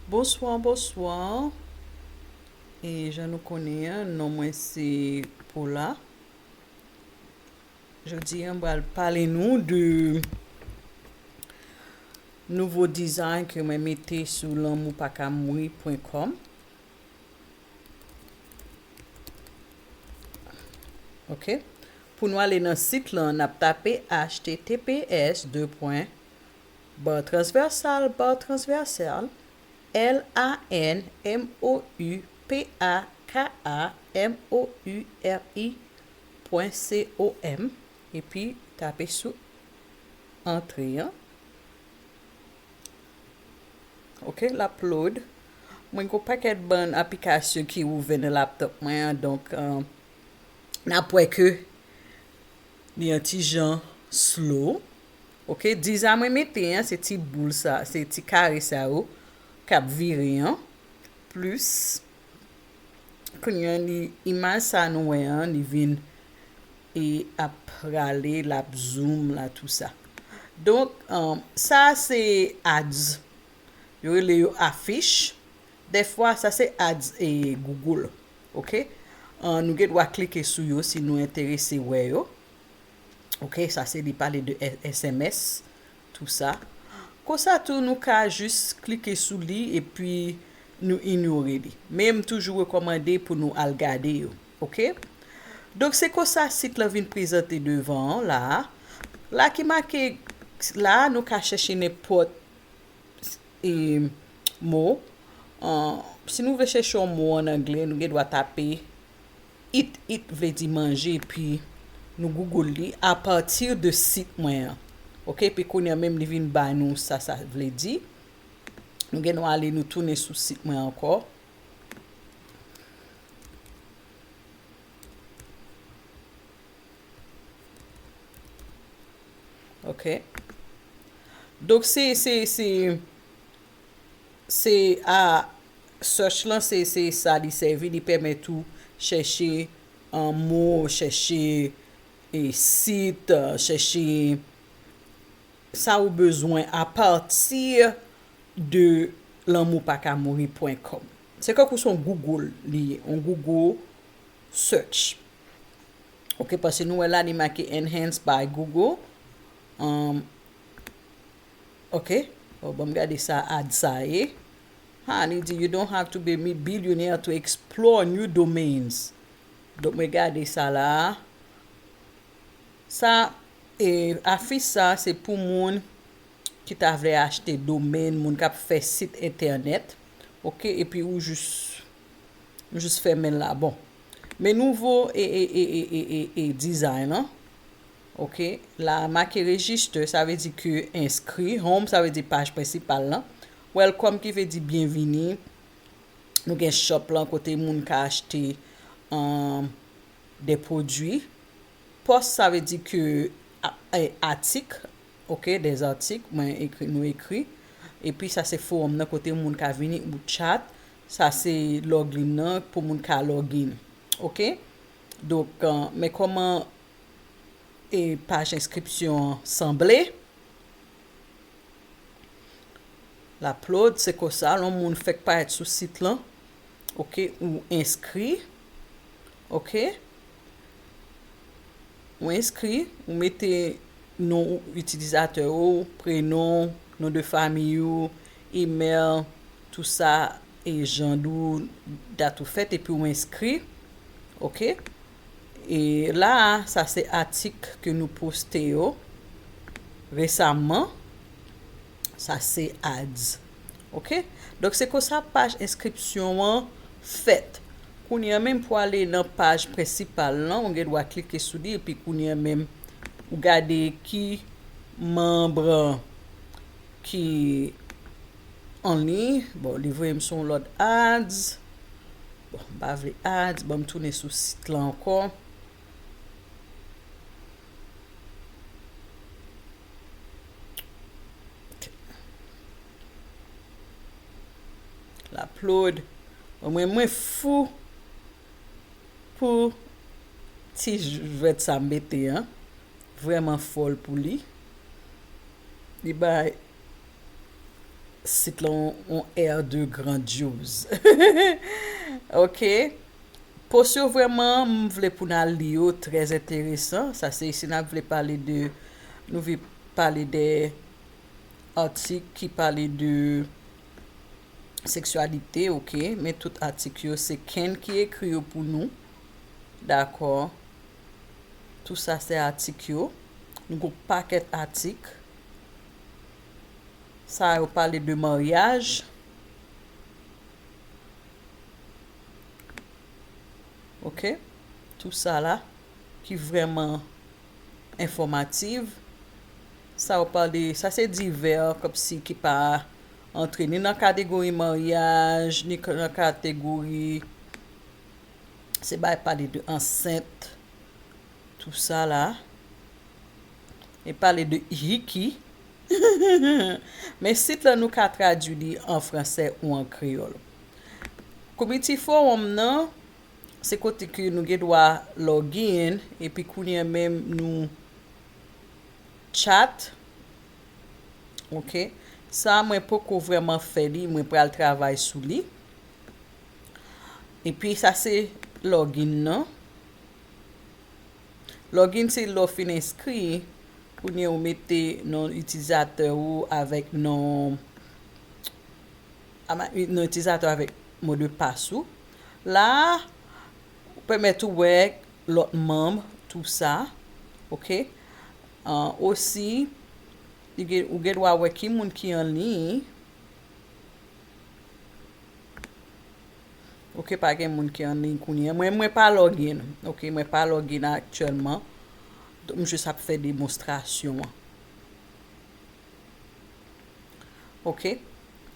Bonsoir bonsoir e jan nou konnen an non mwen se Paula jodi an bal pale nou de nouvo design ke mwen mete sou lanmou pa ka mouri pwen kòm ok pou nou ale nan sit lan nap tape achte tps 2 pwen Bar transversal Bar transversal L a n m o u p a k a m o u r i pwen c o m epi tape sou antre an ok lap load mwen gon pakèt bann aplikasyon ki ouvè nan laptop mwen an donk nap wè ke li yon ti jan slow. ok disa mwen mete an se ti boul sa se ti kare sa yo kap vire an plis kounya li imaj sa nou wè an li vin e ap rale lap zoom la tou sa donk sa se ads yo rele yo afich dèfwa sa se ads e google ok nou gen dwa klike sou yo si nou enterese wè yo ok sa se li pale de sms tou sa konsa tou nou ka jis klike sou li epi nou inyore li men m toujou rekòmande pou nou al gade yo ok donk se konsa sit lan vin prezante devan an la a la ki make la a nou ka chèche nenpòt e mo an si nou vle chèche yon mo an anglè nou gen dwa tape. Eat It vle di manje epi nou Google li a partir de sit mwen an ok epi kounye a menm li vin bay nou sa sa vle di nou gen dwa ale nou tounen sou sit mwen ankò ok donk se se se se a search lan se se sa li sèvi li pèmèt ou chèche mo chèche e sit chèche sa ou bezwen a pati de lanmou pa ka mouri pwen kòm se tankou son google li ye on google search ok paske nou wè la li make enhance by google an. Ok oh banm gade sa ad sa ye haa li di you don't have to be mi billionaire to explore new domains donk mwen gade sa la sa e afich sa se pou moun ki ta vle achte domain moun kap fè sit entènèt ok epi ou jis ou jis fèmen la bon men nouvo e e e e e e design lan. Ok la make register sa vle di ke enskri, home sa vle di paj prensipal lan, welcome ki vle di byenvini, nou gen shop lan kote moun ka achte des produits, post sa vle di ke atik ok des articles mwen ekri nou ekri, epi sa se forum nan kote moun ka vini ou chat, sa se login nan pou moun ka login ok donk men koman e paj enskripsyon an sanble. Laplod se konsa lon moun fèk parèt sou sit lan. Ok, ou enskri. Ok. Ou enskri, ou mete non ou itilizatè ou, prenon, non de fami ou, email, tou sa e jan dou dat ou fèt epi ou enskri. Ok. E la a, sa se atik ke nou poste yo resamman. Sa se ads. Ok? Donk se konsa paj enskripsyon an fèt. Kounye an menm pou ale nan paj prensipal lan, ou gen dwa klike sou li epi kounye an menm ou gade ki manb ki an liy bon li voyem sou yon lòt ads bon m pa vle ads banm tounen sou sit lan ankò ok l ap load bon mwen mwen fou pou ti jwèt sa m mete an vrèman fòl pou li li bay Sit lan on air de grandiose ok post yo vrèman m vle pou n al li yo trè enteresan sa se si n ap vle pale de nou vle pale de atik ki pale de seksyalite ok men tout atik yo se kenn ki ekri yo pou nou dakò tou sa se atik yo nou gon pakèt atik Sa yo pale de maryaj. Ok. Tou sa la. Ki vreman enfomativ. Sa yo pale. Sa se divè. Kom si ki pa antre ni nan kategori maryaj. Ni nan kategori. Se bay pale de ansent. Tout sa la e pale de Hicky men sit lan nou ka tradwi li an fransè ou an kreyòl. Konbit ti fowòm nan se kote ke nou gen dwa login epi kounye an menm nou chat ok sa a mwen poko vrèman fè li mwen pral travay sou li epi sa se login nan. Login se lè w fin enskri, kounye ou mete non itilizatè ou avèk non itilizatè avèk modepas ou. La a, ou pèmèt ou wè lòt manm tou sa. Ok. Osi, ou gen dwa wè ki moun ki anliy. Ok pa gen moun ki anliy kounyea mwen mwen pa login ok mwen pa login aktyèlman m jis ap fè demonstrasyon an ok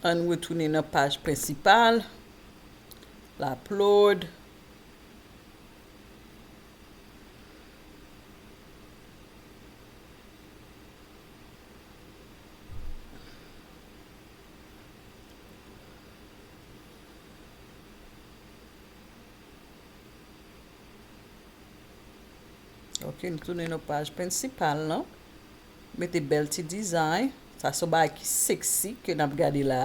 ann retounen nan paj prensipal l aplod Ok, nou tounen nou paj prensipal lan. Mete bèl ti dizay. Sa sou bay ki seksi ke nap gade la.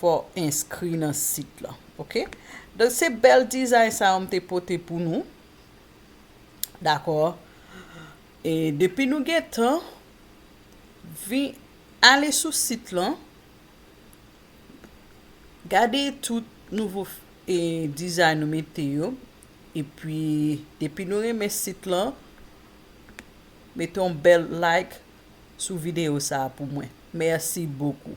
Fò enskri nan sit lan ok. Donk se bèl dizay sa yo m te pote pou nou dakò e depi nou gentan vin ale sou sit lan gade tout nouvo e dizay nou mete yo epi depi nou renmen sit lan mete yon bèl like sou videyo sa pou mwen mèsi bokou.